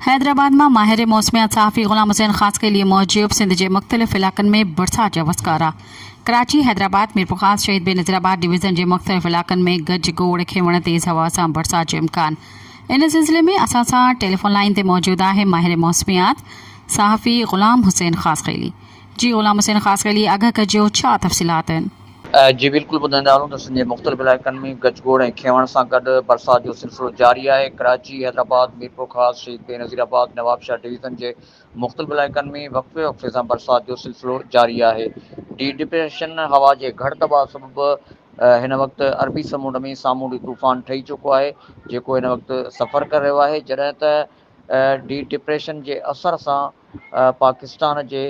حيدرآباد مان ماهر موسميات صحافي غلام حسين خاصخيلي موجب سنڌ جي مختلف علائقن ۾ برسات جا وسڪارا ڪراچي، حيدرآباد، ميرپورخاص، شهيد بينظير آباد ڊويزن جي مختلف علائقن ۾ گج گوڙ کينوڻ تيز هوا سان برسات جو امڪان ان سلسلي ۾ اسان سان ٽيليفون لائين تي موجود آهي ماهر موسميات صحافي غلام حسين خاصخيلي جي غلام حسين خاص خيلي اگهه ڪجيو ڇا تفصيلات آهن. جي بلڪل ٻڌائيندا هلون ته سنڌ جي مختلف علائقن ۾ گچ گوڙ ۽ کينوڻ سان گڏ برسات جو سلسلو جاري آهي ڪراچي، حيدرآباد، ميرپورخاص، شهيد بينظير آباد، نوابشاهه ڊويزن جي مختلف علائقن ۾ وقفي وقفي سان برسات جو سلسلو جاري آهي ڊي ڊپريشن هوا جي گهڙ دٻاء سبب هن وقت عربي سمنڊ ۾ سامونڊي طوفان ٺهي چڪو آهي جيڪو هن وقت سفر ڪري رهيو آهي جڏهن ته ڊي ڊپريشن جي اثر سان پاڪستان جي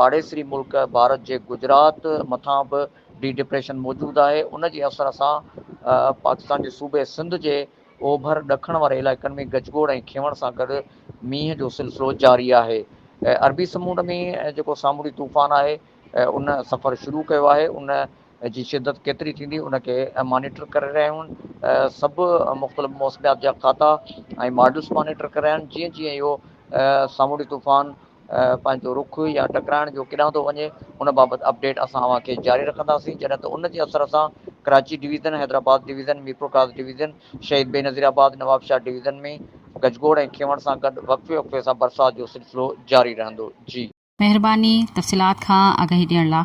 پاڙيسري ملڪ ڀارت جي گجرات مٿان به ڊي ڊپريشن موجود آهي ان جي اثر سان پاڪستان جي صوبي سنڌ جي اوڀر ڏکڻ واري علائقن ۾ گجگوڙ ۽ کينوڻ سان گڏ مينهن جو سلسلو جاري آهي عربي سمونڊ ۾ جيڪو سامونڊي طوفان آهي ان سفر شروع ڪيو آهي ان جي شدت ڪيتري ٿيندي ان کي مانيٽر ڪري رهيا آهيون سڀ مختلف موسميات جا کاتا ۽ ماڊلز مانيٽر ڪري رهيا آهن جيئن جيئن اهو سامونڊي طوفان پنهنجو رخ يا ٽڪرائڻ جو ڪيڏانهن ٿو وڃي ان بابت اپڊيٽ اسان اوهان کي جاري رکنداسين جڏهن ته ان جي اثر سان Karachi division Hyderabad division Mirpurkhas division Shaheed Benazir آباد نوابشاهه ڊويزن ۾ گجگوڙ ۽ کيوڻ سان گڏ وقفي وقفي سان برسات جو سلسلو جاري رهندو جي مهرباني تفصيلات کان آگاهي ڏيڻ لا.